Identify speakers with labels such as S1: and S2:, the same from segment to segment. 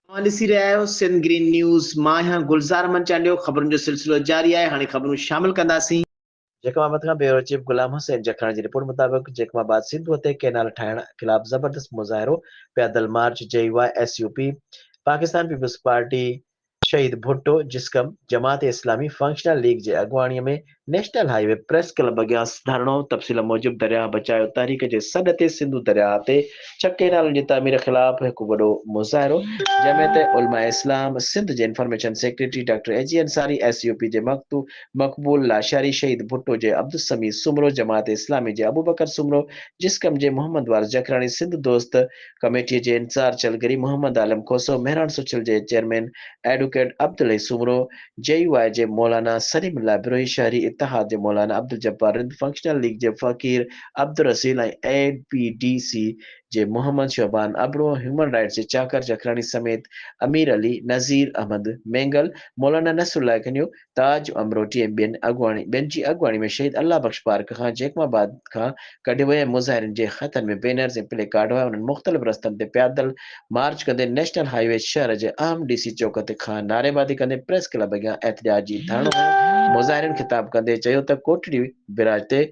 S1: اوهان ڏسي رهيا آهيو سنڌ گرين نيوز مان آهيان گلزار احمد چانڊيو خبرن جو سلسلو جاري آهي هاڻي خبرون شامل ڪنداسين. جيڪب آباد کان بيورو چيف غلام حسين جکاڻي جي رپورٽ مطابق جيڪب آباد سنڌوء تي ڪئنال ٺاهڻ خلاف زبردست مظاهرو، پيادل مارچ، جي واء S U P, Pakistan Peoples Party, Shaheed Bhutto جسقم جماعت اسلامي فنڪشنل ليگ جي اڳواڻي ۾ National Highway press club اڳيان ڌرڻو، تفصيل موجب درياهه بچايو تحريڪ جي سڏ تي سنڌو درياهه تي ڇهه ڪئنالن جي تعمير خلاف هڪ وڏو مظاهرو، جمعيت علماء اسلام سنڌ جي information secretary doctor A G Ansari, S U P جي مقتو مقبول لاشاري، شهيد ڀٽو جي عبدالسميع سومرو، جماعت اسلامي جي ابوبڪر سومرو، جسقم جي محمد وارث جکراڻي، سنڌ دوست ڪميٽيء جي انتظار چلگري محمد عالم کوسو، مهراڻ سوشل جي chairman advocate Abdul Hai Soomro, J U I جي مولانا سليم الله بروهي، شهري اتحاد جي مولانا عبدالجبار رند، فنڪشنل ليگ جي Faqir Abdulraseel ۽ A P D C جي محمد شعبان ابڙو، هيومن رائٽس جي چاڪر جکراڻي سميت امير علي، نذير احمد مينگل، مولانا نصرالله کنيو، تاج امروٽي ۽ ٻين اڳواڻي ٻين جي اڳواڻي ۾ شهيد الله بخش پارڪ کان جيڪب آباد کان ڪڍي ويو ۽ مظاهرين جي هٿن ۾ بينرز ۽ پلي ڪارڊ هئا انهن مختلف رستن تي پيادل مارچ ڪندي نيشنل هاء وي شهر جي اهم ڊي سي چوڪ تي کان نعريبازي ڪندي پريس ڪلب اڳيان احتجاجي ڌرڻو هنيو مظاهرين خطاب ڪندي چيو ته ڪوٽڙي بيراج تي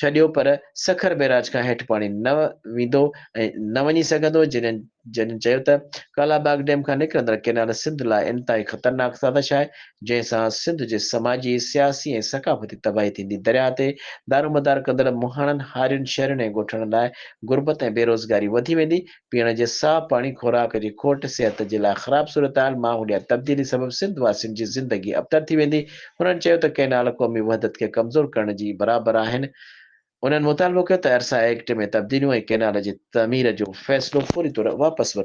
S1: ڇڏيو پر سکر بيراج کان هيٺ پاڻي نه ويندو ۽ نه وڃي سگهندو جنهن جنھن چيو ته ڪالا باغ ڊيم کان نڪرندڙ ڪينال سنڌ لاء انتھائي خطرناڪ سازش آھي، جنھن سان سنڌ جي سماجي، سياسي ۽ ثقافتي تباھي ٿيندي، درياء تي دارومدار ڪندڙ مھاڻن، ھارين، شھرين ۽ ڳوٺاڻن لاء غربت ۽ بيروزگاري وڌي ويندي، پيئڻ جي صاف پاڻي، خوراڪ جي کوٽ، صحت جي لاء خراب صورتحال، ماحوليات تبديلي سبب سنڌ واسين جي زندگي ابتر ٿي ويندي، ھنن چيو ته ڪينال قومي وحدت کي ڪمزور ڪرڻ جي برابر آھن، انهن مطالبو ڪيو ته ارسا ايڪٽ ۾ تبديليون ۽ ڪئنال جي تعمير جو فيصلو فوري طور واپس ورتو وڃي.